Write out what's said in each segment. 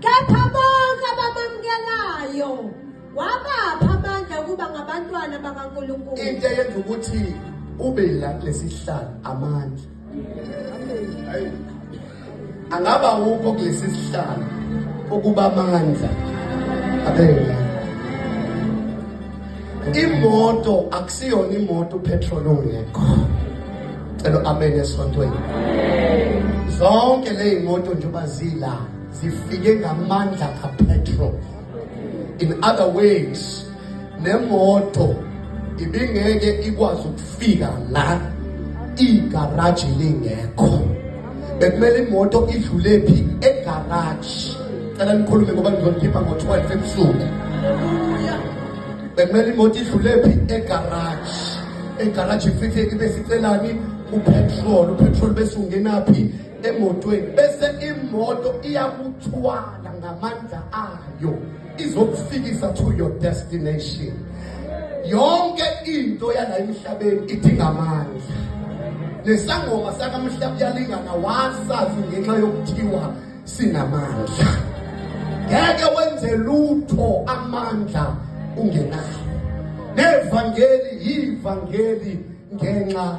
Kepha bonke abamamukelayo wabapha amandla ukuba ngabantwana bakaNkulunkulu. Into eyenza ukuthi ube la kulesihlalo amandla. Angaba wukho kulesi sihlalo ukuba amandla abela. imoto akusiyona imoto upetrol ongekho cela amen esontweni zonke leyimoto njengoba zila zifike ngamandla kapetrol in other ways nemoto ibingeke ikwazi ukufika la igaraji lingekho bekumele imoto idlule phi egaraji cela nikhulume ngoba ngizonikhipha ngo-12 ebusuku bekumele imoto idlule phi egaraji egaraji ifike ibe sicelani upetrol upetrol bese ungenaphi emotweni bese imoto iyakuthwala ngamandla ayo izokufikisa to your destination yonke into yala emhlabeni idinga amandla nesangoma sakamhla kuyalingana wasazi ngenxa yokuthiwa sinamandla ngeke wenze lutho amandla ungenawo nevangeli yivangeli ngenxa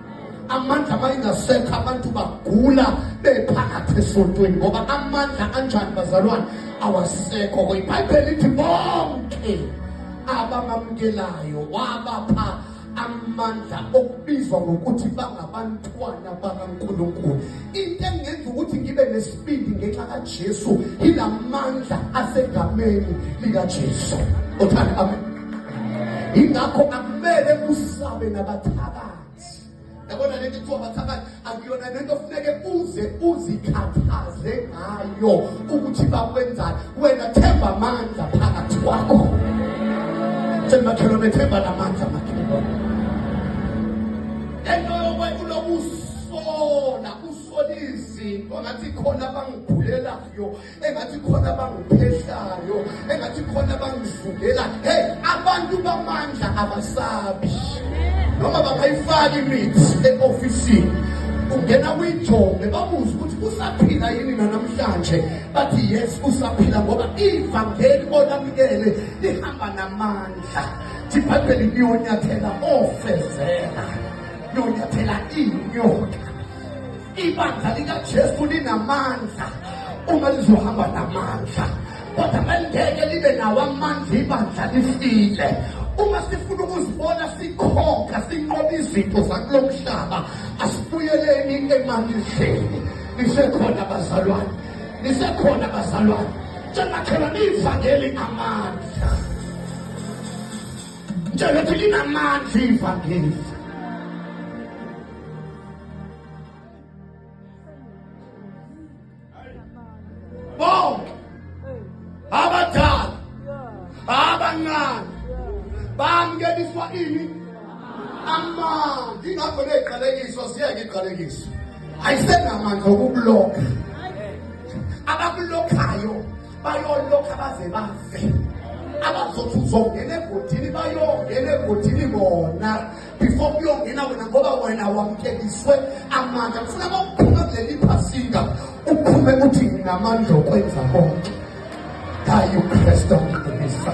amandla mayengasekho abantu bagula bephakathi esontweni ngoba amandla anjani bazalwane awasekho ibhayibheli lithi bonke abamamukelayo wabapha amandla okubizwa ngokuthi bangabantwana bakaNkulunkulu into engenza ukuthi ngibe nesibindi ngenxa kaJesu ilamandla asegameni likaJesu othanda amen ingakho akumele kusabe nabathaka yabona le nto kuthiwa mathakathi akuyona le nto funeke uze uzikhathaze ngayo ukuthi bakwenzani wena themba amandla phakathi kwakho tshela makhelwane themba namandla makhelwane ento yokwethu lokusola usola izinto ngathi khona abangiphulelayo engathi khona abangiphehlayo engathi khona abangivukela hey abantu bamandla abasabi noma bangayifaki imithi e-ofisini ungena kwijonge babuze ukuthi usaphila yini nanamhlanje bathi yes usaphila ngoba ivangeli olamukele lihamba namandla ibhayibheli liyonyathela ofezela liyonyathela inyoka ibandla likajesu linamandla uma lizohamba namandla kodwa bengeke libe nawo amandla ibandla lifile uma sifuna ukuzibona sikhokha sinqoba izinto zakulo mhlaba asibuyeleni emandleni nisekhona bazalwane nisekhona bazalwane njengakhona niyivangeli amandla njengothi linamandla ivangeli bonke abadala abancane bamkeliswa ini amanzi ingakho ley'qalekiso siyeke iqalekiso ayisenamandla okukulokha abakulokhayo bayolokha baze bafe abazothi uzongena egodini bayongena egodini bona before kuyongena wena ngoba wena wamkekiswe amandla kufuna kokuphuma kuleli phasinga uphume uthi nginamandla okwenza konke kayi ukristu omdumisa